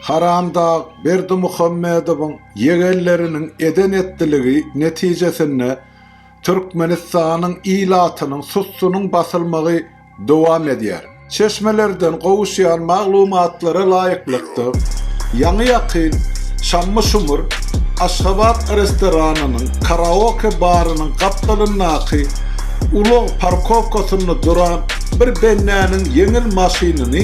Haramdag Berdimuhamedowyň ýegenleriniň eden-etdiligi netijesinde Türkmenistanyň ilatynyň sussunyň basylmagy dowam edýär. Çeşmelerden gowuşýan maglumatlara laýyklykda, ýaňy-ýakyn Şammy Şumur Aşgabat restoranynyň karaoke barynyň gapdalyndaky ulag parkowkasynda duran bir bendäniň ýeňil maşynyny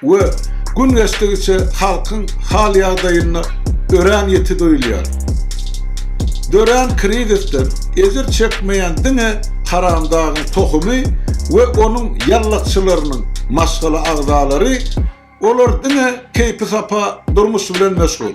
We gün geçdigiçe halkyň hal-ýagdaýynda örän ýiti duýulýar. Dörän krizisden ejir çekmeýän diňe haramdagyň tohumy we onuň ýallakçylarynyň maşgala agzalary, olar diňe keýpi-sapa durmuş bilen meşgul.